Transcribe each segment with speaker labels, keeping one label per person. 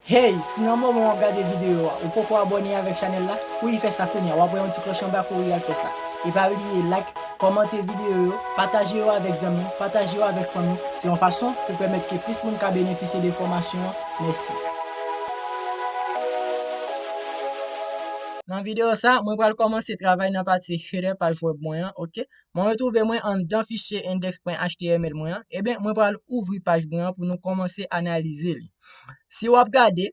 Speaker 1: Hey, si nan moman wap gade video a ou poko abone avek chanel la, kouri fè sa kounya, wap wè yon ti kloch anba kouri al fè sa. E pa bliye like, kòmante video yo, pataje yo avek zanmi, pataje yo avek fanmi, se yon fason pou pèmèt ke plis moun ka benefisye de fòmasyon an, mèsi. Nan video sa, mwen pral kòmanse travay nan pati header paj web mwen an, ok. Mwen retrouve mwen anndan fichye index.html mwen an, eben mwen pral ouvri paj mwen an pou nou kòmanse analize li. Si wap gade,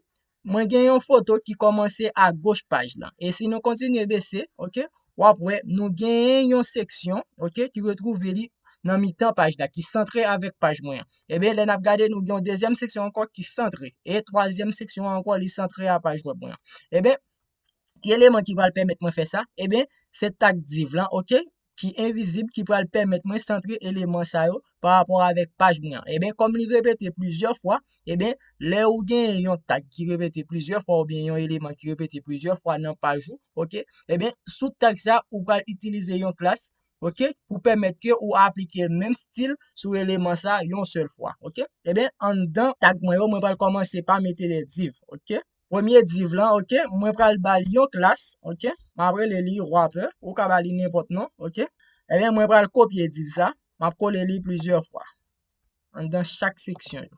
Speaker 1: mwen gen yon foto ki kòmanse a goch paj lan. E si nou kontinye bese, ok, wap wè nou gen yon seksyon, ok, ki retrouve li nan mitan paj la, ki santre avèk paj mwen an. Eben lè nap gade nou gen yon dezyèm seksyon ankò ki santre, e twazyèm seksyon an ankò li santre a paj web mwen an. Eben, Ki eleman ki pral pèmèt mwen fè sa? Eben, se tag div lan, ok, ki envizib ki pral pèmèt mwen santre eleman sa yo pa rapò avèk paj mwen an. Eben, kòm li repete plizyè fwa, eben, lè ou gen yon tag ki repete plizyè fwa oubyen yon eleman ki repete plizyè fwa nan paj ou, ok, eben, sou tag sa, ou pral itilize yon klas, ok, pou pèmèt ke ou aplike menm stil sou eleman sa yon sèl fwa, ok. Eben, anndan tag mwen yo, mwen pral kòmanse pa mete de div, ok. Premye div lan ok mwen pral bal yon klas ok map rele li wrapper ou ka bali nenpòt non ok ebyen mwen pral kopye div sa map kole li plizyè fwa anndan chak seksyon yo.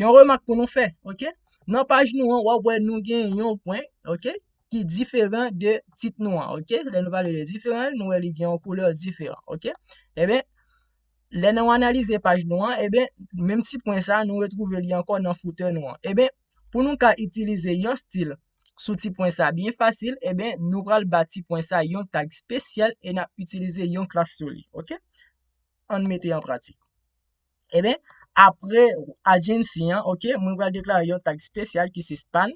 Speaker 1: Yon remak pou nou fè, ok? Nan paj nou an, wap wè nou gen yon pwen, ok? Ki diferan de tit nou an, ok? Lè nou pale de diferan, nou wè li gen yon koulè diferan, ok? Eben, eh lè nou analize paj nou an, eben, eh menm ti pwen sa, nou retrouve li ankò nan footè nou an. Eben, eh pou nou ka itilize yon stil sou ti pwen sa byen fasil, eben, eh nou pral ba ti pwen sa yon tag spesyal e nap itilize yon klas sou li, ok? Ann mete an pratik. Eben, apre agency an, ok, mwen pral deklare yon tag spesyal ki se span.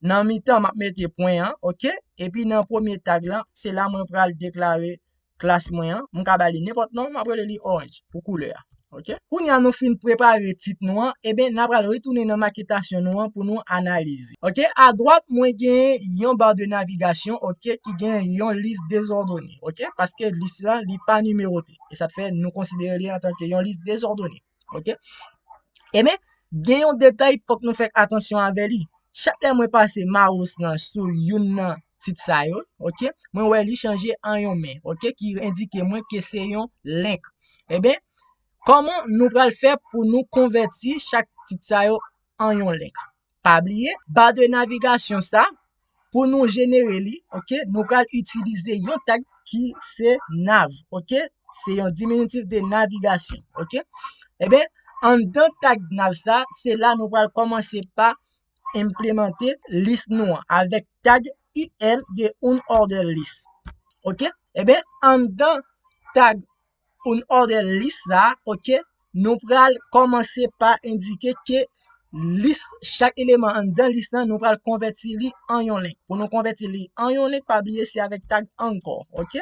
Speaker 1: Nan mitan, map mete pwen an, ok. Epi nan premye tag lan, se la mwen pral deklare klas mwen an. Mwen ka ba li nenpòt non, mwen ap rele li oranj pou koulè a, ok. Kounye a nou fin prepare tit nou an, eben, nan pral retounen nan maketasyon nou an pou nou analize. Ok, a dwat mwen gen yon bar de navigation, ok, ki gen yon lis dezòdone, ok, paske lis la li pa nimerote. E sa te fè nou konsidere li antanke yon lis dezòdone. Ok? E men, gen yon detay fòk nou fè atansyon avè li. Chak lè mwen pase mouse nan sou youn nan tit sa yo, ok, mwen wè li chanje an yon men, ok, ki endike mwen ke se yon link. E ben, kòman nou pral fè pou nou konvèti chak tit sa yo an yon link? Pa bliye ba de navigasyon sa pou nou jenere li ok nou pral itilize yon tag ki se nav ok se yon diminutif de navigasyon ok eben anndan tag nav sa se la nou pral kòmanse pa enplemante lis nou an avèk tag il de un order list ok eben anndan tag Poun òdè lis sa a ok nou pral kòmanse pa endike ke lis chak eleman anndan lis lan nou pral konvèti li an yon link pou nou konvèti li an yon link pa bliye se avèk tag ankò ok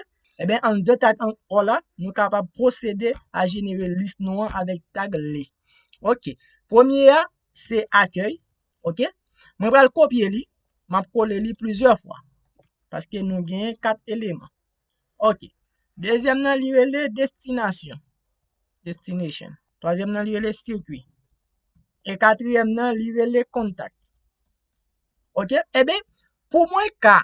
Speaker 1: eben anndan tag ankò la nou kapab pwosede a jenere lis nou an avèk tag li ok premye a se akèy ok mwen pral kopye li map kole li plizyè fwa paske nou gen 4 eleman Ok. Dezyèm nan li rele destinasyon. Destination. Twazyèm nan li rele sirkwi. E katriyèm nan li rele kontak. Ok? Ebe, eh pou mwen ka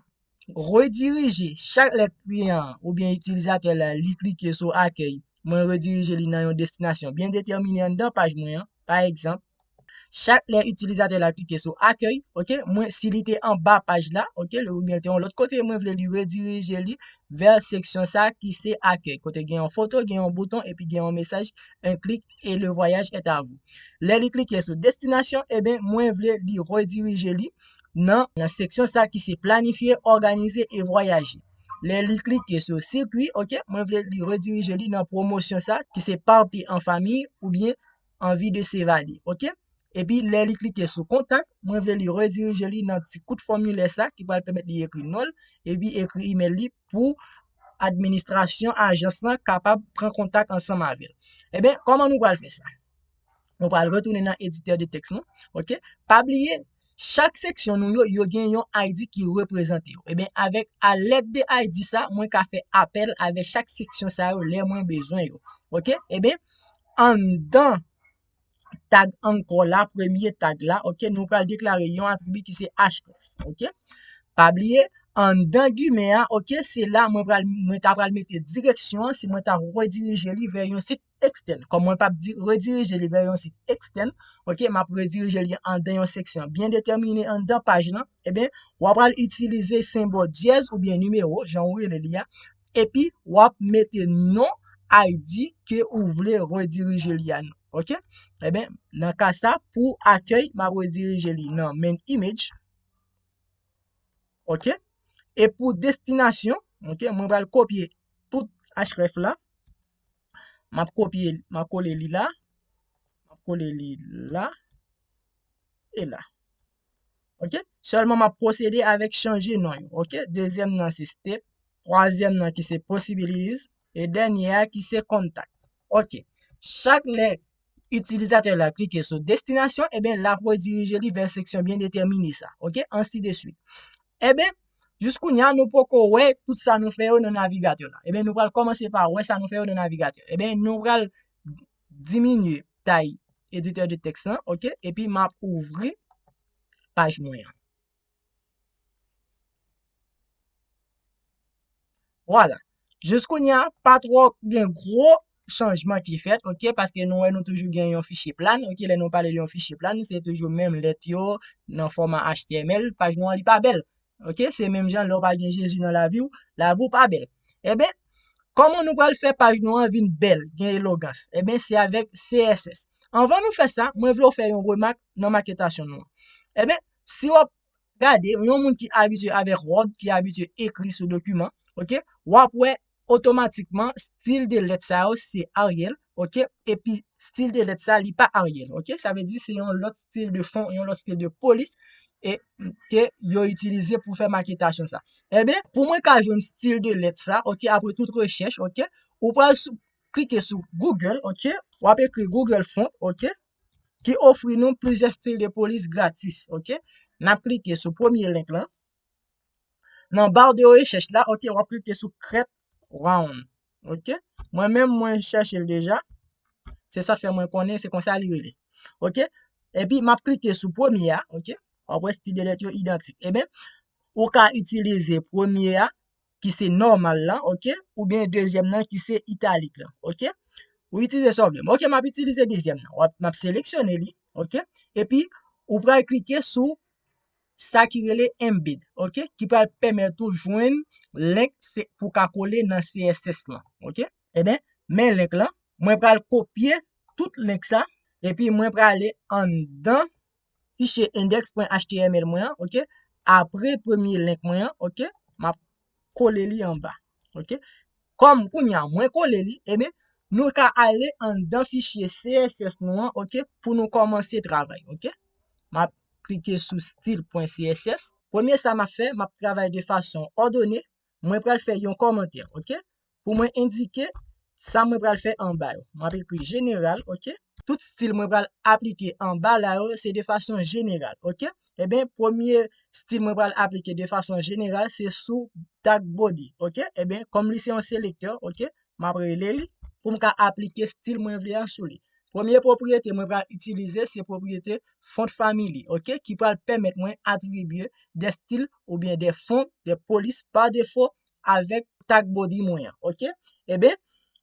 Speaker 1: redirije chak lèt kliyan oubyen itilizatè la li klike sou akèy mwen redirije li nan yon destinasyon byen detèmine anndan paj mwen an. Pa egzanp, chak lè itilizatè la klike sou akèy, ok, mwen si li te anba paj la, ok, ou byen te yon lòt kote, mwen vle li redirije li vè seksyon sa ki se akèy, kote gen yon foto, gen yon bouton epi gen yon mesaj un clic et le voyage est à vous. Lè li klike sou destinasyon, eben mwen vle li redirije li nan seksyon sa ki se planifier, organiser et voyager. Lè li klike sou sikwi, ok, mwen vle li redirije li nan promosyon sa ki se parti an fami ou byen anvi de sevade, ok. Epi lè li klike sou kontak, mwen vle li redirije li nan ti kout fòmilè sa ki pral pèmèt li ekri non l epi ekri email li pou administrasyon ajans lan kapab pran kontak ansanm avè l. Eben, kòman nou pral fè sa? Nou pral retounen nan editè de tèks nou. Ok, pa bliye, chak seksyon nou yo, yo gen yon ID ki reprezante yo. Eben, eh avèk a lèt de ID sa, mwen ka fè apèl avè chak seksyon sa yo lè mwen bezwen yo. Ok, eben, eh anndan tag ankò la, premye tag la, ok, nou pral deklare yon atribi ki se href. Ok, pa bliye, anndan gimè a, ok, se la mwen ta pral mete direksyon an si mwen ta redirije li vè yon sit. ekstèn. Kòm mwen pap di redirije li vè yon sit ekstèn, ok, map redirije li andan yon seksyon byen detèmine andan paj lan, eben, eh w ap al itilize senbò dyèz oubyen nimewo, jan ou rele li a, epi w ap mete non ID ke ou vle redirije li a nan, ok. Eben, nan ka sa, pou akèy, m ap redirije li nan main image, ok, e pou destinasyon, ok, mwen pral kopye tout href la. M ap kopye li, m ap kole li la, m ap kole li la, e la. Ok, sèlman m ap pwosede avèk chanje non yo. Ok, dezyèm nan se step, twazyèm nan ki se posibilize, e dènyè a ki se kontak. Ok, chak lè itilizatè la klike sou destinasyon, e ben lap redirije li vè seksyon byen detèmine sa, ok, ansi de swit. E ben, jis kounye a nou poko wè tout sa nou fè yo nan navigatè la. E ben nou pral kòmanse pa wè sa nou fè yo nan navigatè. E ben nou pral diminye tay editè de tèks lan, ok, epi map ouvri paj mwen an. Voilà. Jous kounye a, pa tro gen gro chanjman ki fèt, ok, paske nou wè nou toujou gen yon fichye plan, ok, lè nou pale yon fichye plan, se toujou menm lèt yo, nan fòma HTML, paj nou an li pa bèl, ok, se menm jan lè ou pa gen Jezi nan lavi ou, lavi ou pa bèl. Eben, kòman nou pral fè paj nou an vin bèl, gen elogans? Eben, se avèk CSS. Anvan nou fè sa, mwen vle ou fè yon remak nan maketasyon nou an. Eben, Si wap gade yon moun ki abitye avèk wòd, ki abitye ekri sou dokiman, ok, wap wè otomatikman stil de lèt sa yo se Arial, ok, epi stil de lèt sa li pa Arial, ok, sa vle di se yon lòt stil de fon, yon lòt stil de polis e ke yo itilize pou fè maketasyon sa. Eben, pou mwen ka jwenn stil de lèt sa, ok, apre tout rechèch, ok, ou pral sou, klike sou Google, ok, wap ekri Google Font, ok, ki ofri nou plizyè stil de polis gratis ok n ap klike sou premye link lan nan baw de rechèch la ok w ap klike sou creat round ok mwen menm mwen chèche l deja se sa k fè mwen konnen se konsa li rele ok epi m ap klike sou premye a ok w ap wè stil de lèt yo idantik eben ou ka itilize premye a ki se nòmal la ok, oubyen dezyèm nan ki se italik la ok, ou itilize sa w vle, ok map itilize dezyèm nan, wap map seleksyone li ok, epi ou pral klike sou sa ki rele embed ok, ki pral pèmèt ou jwenn link se pou w ka kole nan CSS lan ok, eben men link lan mwen pral kopye tout link sa epi mwen prale anndan fichye index.html mwen an, ok, apre premye link mwen an, ok, m ap kole li anba, ok. Kòm kounye a mwen kole li, e men, nou ka ale anndan fichye CSS nou an, ok, pou nou kòmanse travay, ok. M ap klike sou stil pwen CSS. Premye sa m ap fè, m ap travay de fason òdone, mwen pral fè yon kòmantè, ok, pou mwen endike sa mwen pral fè anba yo. Mwen ap ekri jeneral, ok. Tout stil mwen pral aplike anba la yo se de fason jeneral, ok. Eben, eh premye stil mwen pral aplike de fason jeneral se sou tag body, ok. Eben, eh kòm li se yon selektè, ok, m ap rele li pou m ka aplike stil mwen vle a sou li. Premye pwopriyete mwen pral itilize se pwopriyete font family, ok, ki pral pèmèt mwen atribye de stil oubyen de font, de polis pa defo avèk tag body mwen an, ok. Eben,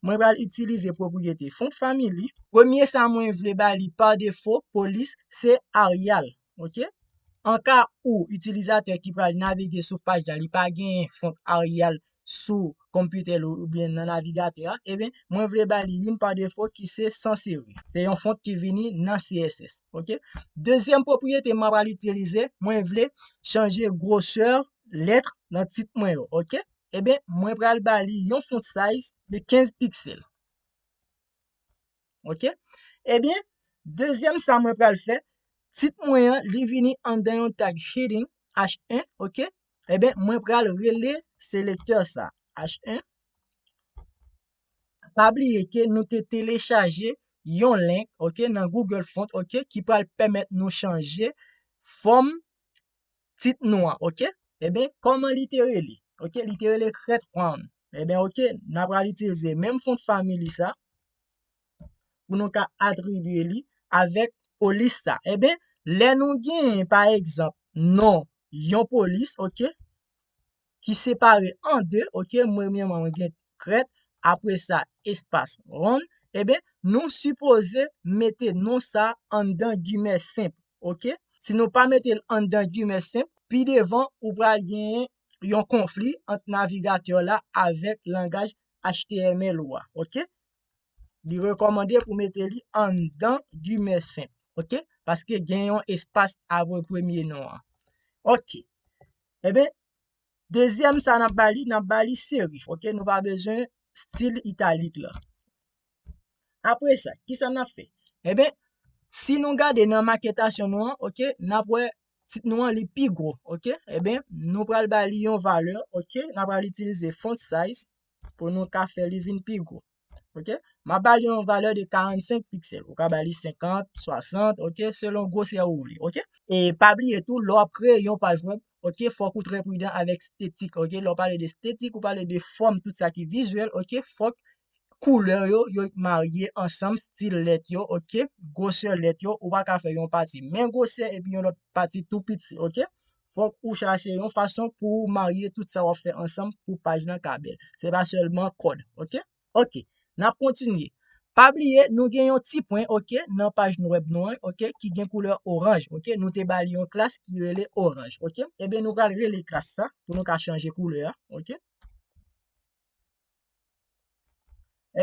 Speaker 1: mwen pral itilize pwopriyete font family. Premye sa mwen vle ba li pa defo, polis, se Arial, ok an ka ou itilizatè ki pral navige sou paj la li pa genyen font Arial sou konpitè l oubyen nan navigatè a eben mwen vle ba li youn pa defo ki se sans seri se yon font ki vini nan CSS ok dezyèm pwopriyete mwen pral itilize mwen vle chanje gwosè lèt nan tit mwen yo ok eben mwen pral ba li yon font size de 15 piksèl Ok, ebyen, dezyèm sa mwen pral fè, tit mwen an, li vini anndan yon tag heading, H1, ok, ebyen, mwen pral rele selektè sa, H1, pa bliye ke nou te telechaje yon link, ok, nan Google Font, ok, ki pral pèmèt nou chanje fòm tit nou an ok eben kòman li te rele ok li te rele crête frown eben ok n ap pral itilize menm fon de family sa pou nou ka atribye li avèk polis sa eben lè nou gen pa egzanp non yon polis ok ki separe an 2 ok premyèman mwen gen krèt apre sa espas wonn eben nou sipoze mete non sa anndan gimè senp ok si nou pa metel anndan gimè senp pi devan ou pral gen yon konfli ant navigatè w la avèk langaj html ou a ok li rekòmande pou mete li anndan gimè senp ok paske gen yon espas apre premye non an ok Enben, dezyèm sa n ap ba li, n ap ba li serif, ok, nou pa bezwen stil italik la. Apre sa, ki sa n ap fè? Enben, si nou gade nan maketasyon nou an, ok, n ap wè tit nou an li pi gwo, ok. Enben, nou pral ba li yon valè, ok, n a pral itilize font size pou nou ka fè li vin pi gwo. Ok, m ap ba li yon valè de 45 piksèl. Ou ka ba li 50, 60, ok, selon gwosè ou vle, ok. E pa bliye tou, lè w ap kreye yon paj wèb, ok, fòk ou trè pridan avèk stetik, ok. Lè w pale de stetik, ou pale de fòm, tout sa ki vizyèl, ok. Fòk koulè yo, yo marye ansanm, stil lèt yo, ok, gwosè lèt yo. Ou pa ka fè yon pati men gwosè epi yon lòt pati tou piti, ok. fòk ou chache yon fason pou ou marye tout sa wap fè ansanm pou paj nan ka bèl. Se pa sèlman kòd, ok? Ok, nap kontinye. Pa bliye nou gen yon ti pwen, ok, nan paj nou web nou an, ok, ki gen koulè oranj, ok, nou te ba li yon klas ki rele oranj, ok. Ebyen nou pral rele klas sa pou nou ka chanje koulè a, ok.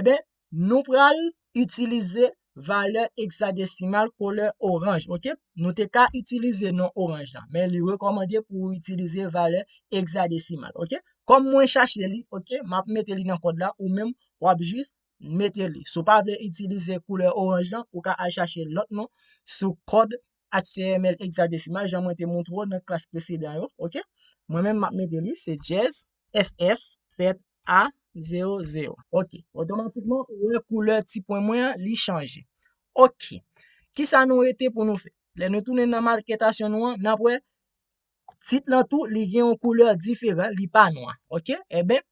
Speaker 1: Eben, nou pral itilize valè eksadesimal kolè oranj, ok? Nou te ka itilize non oranj la, men li rekomande pou ou itilize valè eksadesimal, ok? Kom mwen chache li, ok, map mete li nan kod la, ou menm wap jis mete li. Si w pa vle itilize koulè oranj la, ou ka al chache lot non sou kod HTML hexadesimal jan mwen te montre w nan klas presedan yo, ok? Mwen menm map mete li, se jazz FF fèt a 0 0. Ok, otomatikman ou wè koulè ti pwen mwen an li chanje. Ok, kisa nou rete pou nou fè? Lè nou tounen nan maketasyon nou an, nap wè tit lan tou li gen yon koulè diferan, li pa nwa, ok? Eben,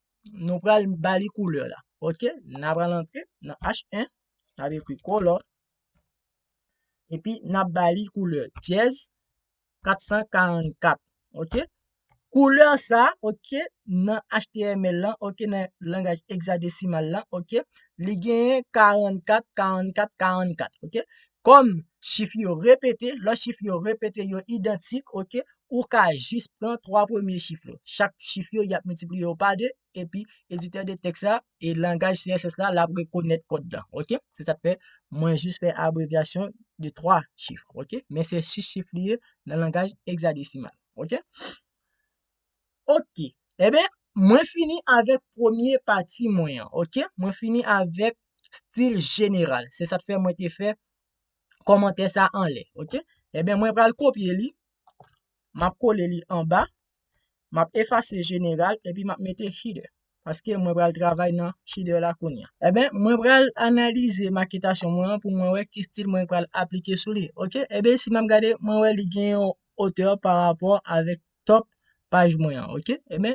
Speaker 1: nou pral ba li koulè la, ok? Nap pral antre nan H1, nap ekri color, Epi nap ba li koulè dyèz 444 ok. Koulè sa ok nan HTML lan ok nan langaj hexadesimal lan ok li genyen 44 44 44 ok kòm chif yo repete lò chif yo repete yo idantik ok ou ka jis pran 3 premye chif yo chak chif yo yap miltipliye yo pa 2 epi editè de tèks la e langaj CSS la lap rekonèt kòd la ok se sak fè mwen jis fè abrevyasyon de 3 chif ok men se 6 chif li ye nan langaj hexadesimal ok ok eben mwen fini avèk premye pati mwen an ok mwen fini avèk stil jeneral se sak fè mwen te fè kòmantè sa anlè ok eben mwen pral kopye li M ap kole li anba, m ap efase jeneral epi m ap mete header paske mwen pral travay nan header la kounya. Eben mwen pral analize maketasyon mwen an pou mwen wè ki stil mwen pral aplike sou li ok. Eben si m ap gade mwen wè li gen yon hauteur parapò avèk top paj mwen an ok. Eben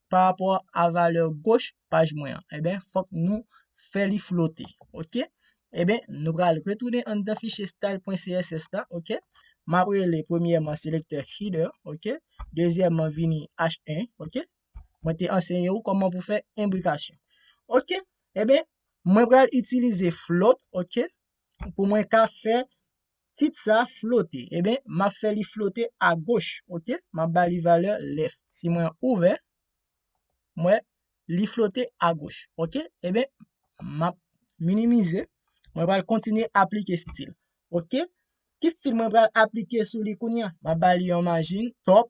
Speaker 1: pa rapò a valè goch paj mwen an. Eben, fòk nou fè li flote. Ok. Eben, nou pral retounen anndan fichye style.css la. Ok. M ap rele premyèman selektè header. Ok. Dezyèman vini h1. Ok. Mwen te anseye ou kòman pou fè enbrikasyon. Ok. Eben, mwen pral itilize float. Ok. Pou mwen ka fè Tit sa flote, eben m ap fè li flote agoch, ok, m ap ba li valè lèf. Si mwen ouvè, m wè li flote agoch, ok, eben m ap minimize, mwen pral kontinye aplike stil, ok. Ki stil mwen pral aplike sou li kounye a? M ap ba li yon majin, top,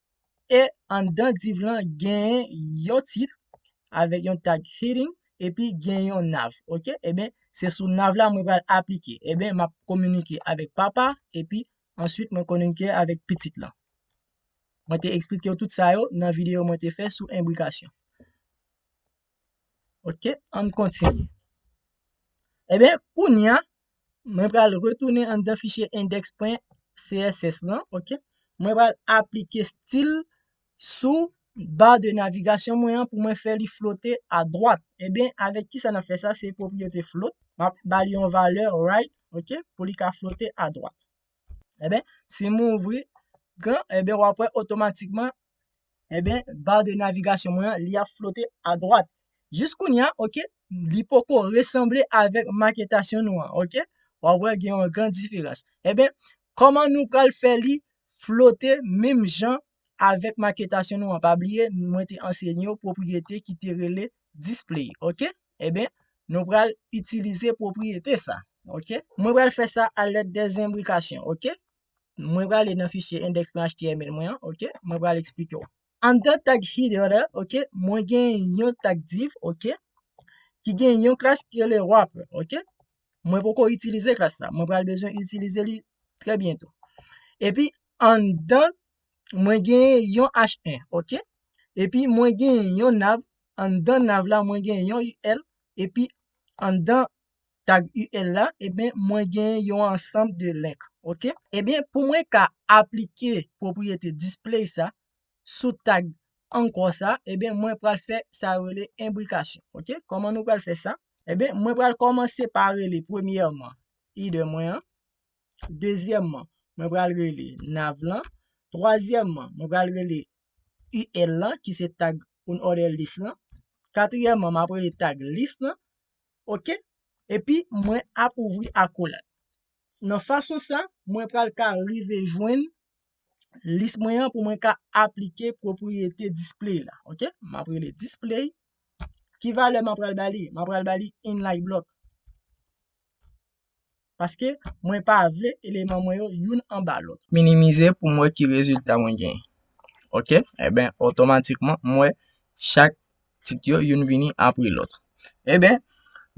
Speaker 1: E anndan div lan gen yon titre avèk yon tag heading epi gen yon nav ok eben se sou nav la mwen pral aplike eben map kominike avèk papa epi answit mwen kominike avèk pitit lan mwen te eksplikew tout sa yo nan video mwen te fè sou enbrikasyon. Ok, an kontinye. Ebyen, kounya, mwen pral retounen an dan fichye index.css lan, ok, mwen pral aplike stil sou ba de navigasyon mwen an pou mwen fè li flote a dwat. Ebyen, avèk ki sa nan fè sa, se pwopriyete flote, map bali yon valè right, ok, pou li ka flote a dwat. Eben, si mwen ouvri gran, eben wap wè otomatikman, eben, bar de navigasyon mwen an, li ap flote a dwat. Jis kounye a, ok, li poko resanble avèk maketasyon nou an, ok? Wap wè gen yon gran diferans. Eben, kòman nou pral fè li flote menm jan avèk maketasyon nou an? Pa bliye, mwen te anseye nou pwopriyete ki te rele display, ok? Eben, nou pral itilize pwopriyete sa. Ok. Mwen pral fè sa a lèd de zenbrikasyon. Ok. Mwen prale nan fichye index.html mwen an. Ok. Mwen pral eksplike w. Anndan tag header la, ok, mwen gen yon tag div, ok, ki gen yon klas ki rele wrapper, ok. Mwen poko itilize klas la. Mwen pral bezwen itilize li trè byento. Epi, anndan mwen genyen yon H1 ok epi mwen genyen yon nav anndan nav la mwen genyen yon UL epi anndan tag UL la eben mwen genyen yon ansanm de link ok eben pou mwen ka aplike pwopriyete display sa sou tag ankò sa eben mwen pral fè sa yo rele enbrikasyon ok kòman nou pral fè sa eben mwen pral kòmanse pa rele premyèman header mwen an. Dezyèmman, mwen pral rele nav lan. Twazyèmman, mwen pral rele UL lan ki se tag unordered list lan. Katriyèmman, map rele tag list lan. Ok, epi mwen ap ouvri akolad. Nan fason sa, mwen pral ka rive jwenn lis mwen an pou mwen ka aplike pwopriyete display la. Ok, map rele display. Ki valè mwen pral ba li? Mwen pral ba li inline block. Paske mwen pa vle eleman mwen yo youn anba lòt. Minimize pou m wè ki rezilta mwen genyen. Ok, eben otomatikman m wè chak tit yo youn vini apre lòt. Eben,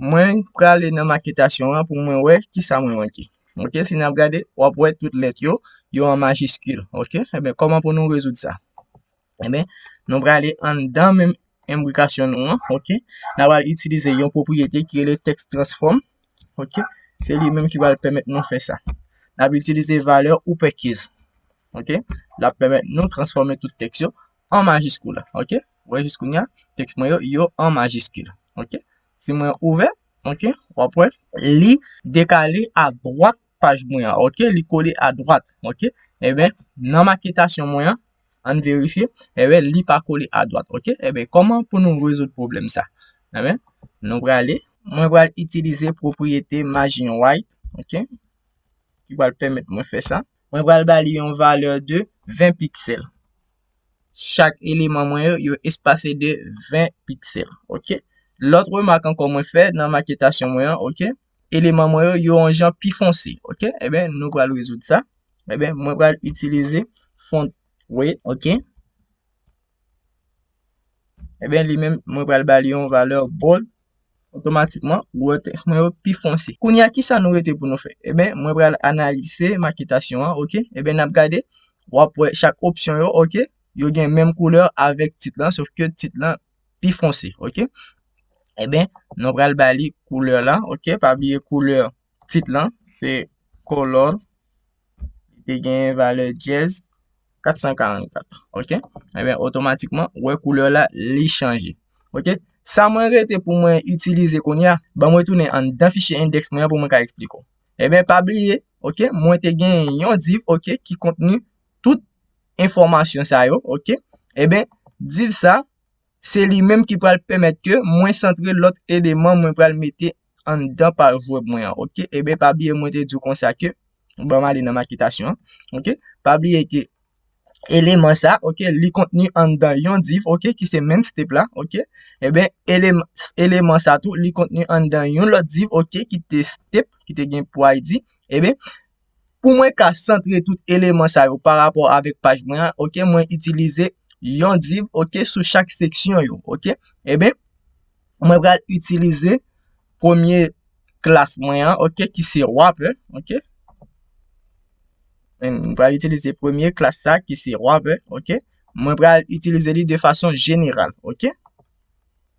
Speaker 1: mwen prale nan maketasyon an pou mwen wè ki sa mwen manke. Ok, si n ap gade, w ap wè tout lèt yo, yo an majiskil. Ok, eben kòman pou nou rezoud sa? Enben, nou prale anndan menm imbrikasyon nou an, ok. Nan pral itilize yon pwopriyete ki rele text transform, ok. Se li menm ki pral pèmèt nou fè sa. Nan ap itilize valè ou pè kez, ok. L ap pèmèt nou transfòme tout tèks yo an majiskil, ok. Ou wè jis kounya, tèks mwen yo, yo an majiskil, ok. Si mwen ouvè, ok, w ap wè li dekale a dwat paj mwen an ok li kole a dwat ok enben nan maketasyon mwen an an n verifye enben li pa kole a dwat ok enben kòman pou nou rezoud pwoblèm sa enben nou prale mwen pral itilize pwopriyete majin wayt ok ki pral pèmèt mwen fè sa mwen pral ba li yon valè de 20 piksèl chak eleman mwen yo yo espase de 20 piksèl ok lòt remak ankò mwen fè nan maketasyon mwen an ok eleman mwen yo yon jan pi fonse. Ok, eben nou pral rezoud sa. Eben, mwen pral itilize font we, ok. Eben, li men mwen pral ba li yon valè bold. Otomatikman, wè tèks mwen yo pi fonse. Kounye a, ki sa nou rete pou nou fè? Eben, mwen pral analize maketasyon an, ok. Eben, n ap gade, w ap wè chak opsyon yo, ok, yo gen menm koulè avèk tit lan, sofke tit lan pi fonse ok enben nou pral ba li koulè la ok pa bliye koulè tit lan se color li gen valè dyèz 444 ok enben otomatikman ou wè koulè la li chanje ok sa mwen rete pou mwen itilize kounye a banm retounen anndan fichye endèks mwen an pou mwen ka esplike w enben pa bliye ok mwen te gen yon div ok ki kontni tout enfòmasyon sa yo, ok, e ben div sa se li menm ki pral pèmèt ke mwen santre lòt eleman mwen pral mete anndan paj wèb mwen an, ok, e ben pa bliye mwen te di w konsa ke, banm ale nan maketasyon an, ok, pa bliye ke eleman sa, ok, li kontni anndan yon div, ok, ki se menm step la, ok, e ben eleman sa tou li kontni anndan yon lòt div, ok, ki te step, ki te gen pou id, e ben Pou mwen ka santre tout eleman sa yo parapò avèk paj mwen an, ok, mwen itilize yon div, ok, sou chak seksyon yo, ok. Eben, mwen pral itilize premye klas mwen an, ok, ki se wrapper, ok. Mwen pral itilize premye klas sa ki se wrapper, ok. Mwen pral itilize li de fason jeneral, ok.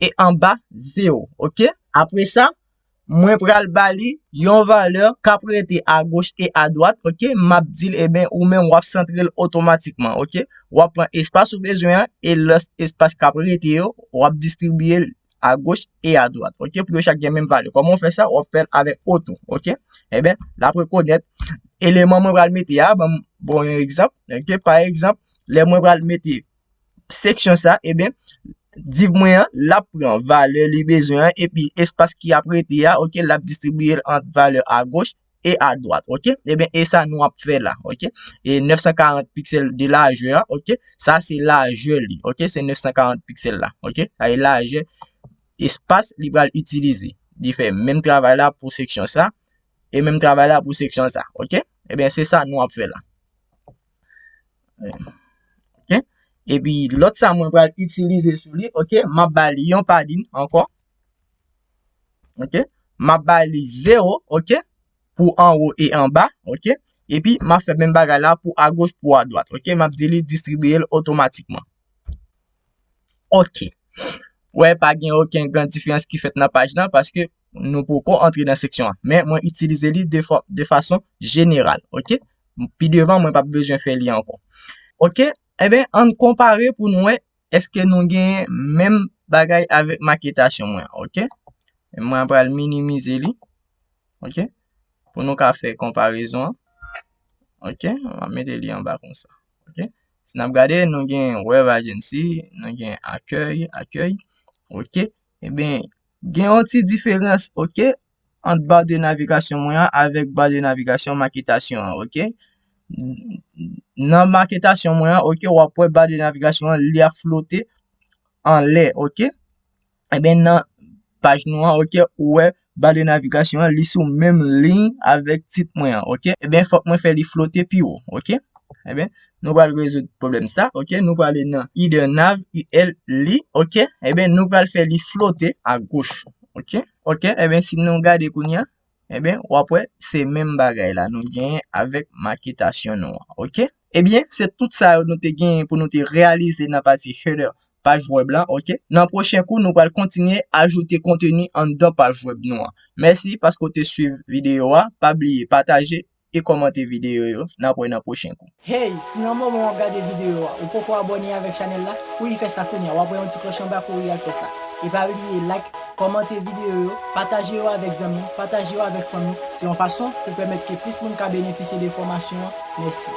Speaker 1: e anba 0, ok? Apre sa, mwen pral ba li yon valè k ap rete agoch e adwat, ok? M ap di l, e ben, ou menm w ap santre l otomatikman, ok? W ap pran espas ou bezwen an e lè espas k ap rete yo, w ap distribiye l agoch e adwat, ok? Pou yo chak gen menm valè. Kòman w fè sa? W ap fè l avèk oto, ok? E ben, l ap rekonèt eleman mwen pral mete a, ban m yon egzanp, ok? Pa egzanp, lè mwen pral mete seksyon sa, eben, div mwen an, l ap pran valè li bezwen an, epi espas ki ap rete a, ok, l ap distribiye l ant valè agoch e adwat, ok. Eben, e sa nou ap fè la, ok. E 940 piksèl de lajè a, ok, sa se lajè li, ok, se 940 piksèl la, ok. Sa e lajè espas li pral itilize. Li fè menm travay la pou seksyon sa, e menm travay la pou seksyon sa, ok. Eben, se sa nou ap fè la. Ok, epi lòt sa mwen pral itilize sou li, ok, m ap ba li yon padin ankò, ok, m ap ba li 0, ok, pou anwo e anba, ok, epi m ap fè menm bagay la pou agoch pou adwat, ok, m ap di li distribiye l otomatikman. Ok. Wè pa gen oken gran diferans ki fèt nan paj la paske nou poko antre nan seksyon an. Men mwen itilize li de fason jeneral. Ok. Pi devan mwen pa bezwen fè li ankon. Ok. Eben an konpare pou nou wè eske nou gen menm bagay avèk maketasyon mwen. Ok. Mwen pral minimize li. Ok. Pou nou ka fè konparezon. Ok. Mwen mete li anba konsa. Ok. Si n ap gade, nou gen Wave Agency, nou gen Akèy, Accueil, ok. Enben, gen yon ti diferans, ok, ant ba de navigasyon mwen an avèk ba de navigasyon maketasyon an, ok. Nan maketasyon mwen an, ok, w ap wè ba de navigasyon an li ap flote anlè, ok. Eben nan paj nou an ok ou wè ba de navigasyon an li sou menm liy avèk tit mwen an ok eben fòk mwen fè li flote pi wo ok eben nou pral rezoud pwoblèm sa ok nou pral ale nan ide nav il li ok eben nou pral fè li flote agoch ok ok eben si nou gade kounye an Ebyen, w ap wè, se menm bagay la nou genyen avèk maketasyon nou an, ok. Ebyen, se tout sa yo nou te genyen pou nou te reyalize nan pati header paj wèb la, ok. Nan pwochen kou, nou pral kontinye ajoute konteni anndan paj wèb nou an. Mèsi paske w te swiv videyo a. Pa bliye pataje, e kòmante videyo yo, nap wè nan pwochen kou. Hey, si nan moman
Speaker 2: wap gade videyo a ou poko abòne avèk chanèl la, kouri fè sa kounya, wap wè yon ti klòch anba kouri al fè sa. E pa bliye like, kòmante videyo yo, pataje yo avèk zanmi, pataje yo avèk fanmi, se yon fason pou pèmèt ke plis moun ka benefisye de fòmasyon an, mèsi.